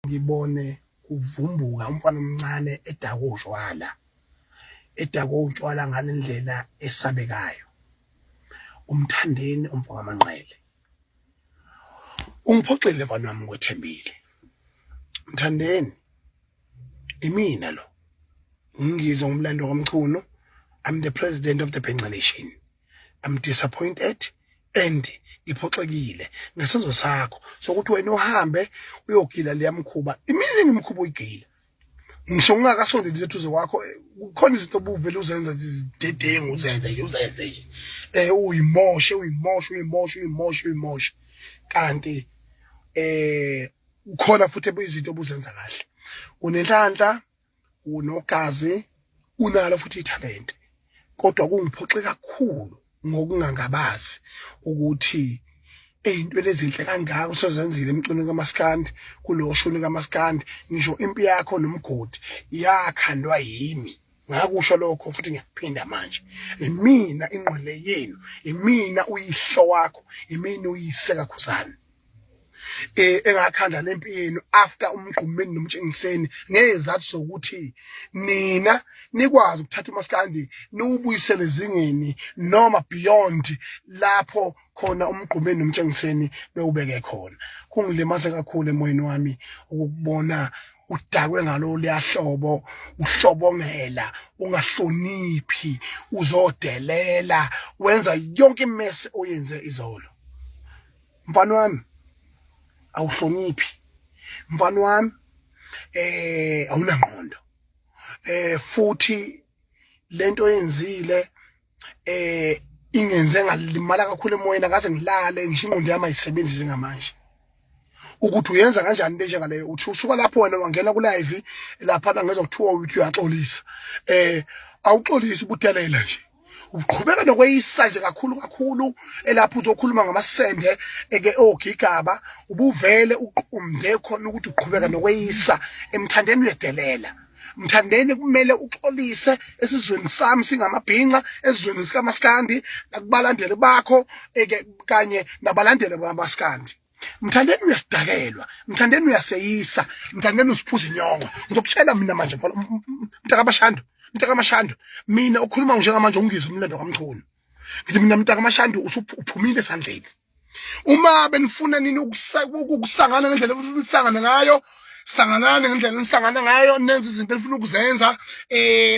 ngibone kuvumbuka umfana omncane edakwa utshwala edakwa utshwala ngale ndlela esabekayo umthandeni umfo kamanqele ungiphoxile mfana wami kwethembile mthandeni imina lo ngizwa umlando kamchunu i'm the president of the penca nation I'm disappointed and ngiphoxekile ngesenzo sakho sokuthi wena uhambe uyogila leya mkhuba imini engimkhuba uyigila ngisho ngingakasondeli izethuze wakho kukhona izinto obuvele uzenza zidedengu uzenze nje uzenze nje eh uyimoshe uyimoshe uyimoshe uyimoshe uyimoshe kanti eh ukhona futhi izinto obuzenza kahle unenhlanhla unogazi unalo futhi ithalente kodwa kungiphoxe kakhulu ngokungangabazi ukuthi ey'ntweni ezinhle kangaka usezenzile emcweni kamaskandi kulo shuni kamaskandi ngisho impi yakho nomgodi yakhandwa yimi ngakusho lokho futhi ngiyakuphinda manje imina ingqwele yenu imina uyihlo wakho imina uyise kakhuzane eh engakhandla nempi yenu after umgqumeni nomtshengiseni ngezathu sokuthi nina nikwazi ukuthatha umaskandi niwubuyisele zingeni noma beyond lapho khona umgqumeni nomtshengiseni bewubeke khona kungilimaze kakhulu emoyeni wami ukubona udakwe ngalo liyahlobo uhlobongela ungahloniphi uzodelela wenza yonke imesi oyenze izolo mfana wami awuhloniphi mfana wami eh awunangqondo eh futhi lento oyenzile eh ingenze ngalimala kakhulu emoyeni akaze ngilale ngisho ingqondo yami ayisebenzi njengamanje ukuthi uyenza kanjani into enjengaleyo uthi usuka lapho wena wangena kulive laphana ngezwa kuthiwa uthi uyaxolisa eh awuxolisi ubudelela nje uqhubeka nokweyisa nje kakhulu kakhulu elapho uzokhuluma ngamasende eke ogigaba ubuvele uqumde khona ukuthi uqhubeka nokweyisa emthandeni uyedelela mthandeni kumele uxolise esizweni sami singamabhinca esizweni sikamaskandi nakubalandeli bakho eke kanye nabalandeli bamaskandi mthandeni uyasidakelwa mthandeni uyaseyisa mthandeni usiphuza inyongo ngizokutshela mina manje mfana mntakamashando mntakamashando mina okhuluma njengamanje ungizwe umlando kamchunu ngithi mina mntakamashando usuphumile esandleni uma benifuna nini ukusangana ngendlela enisangane ngayo sanganani ngendlela enisangane ngayo nenze izinto enifuna ukuzenza um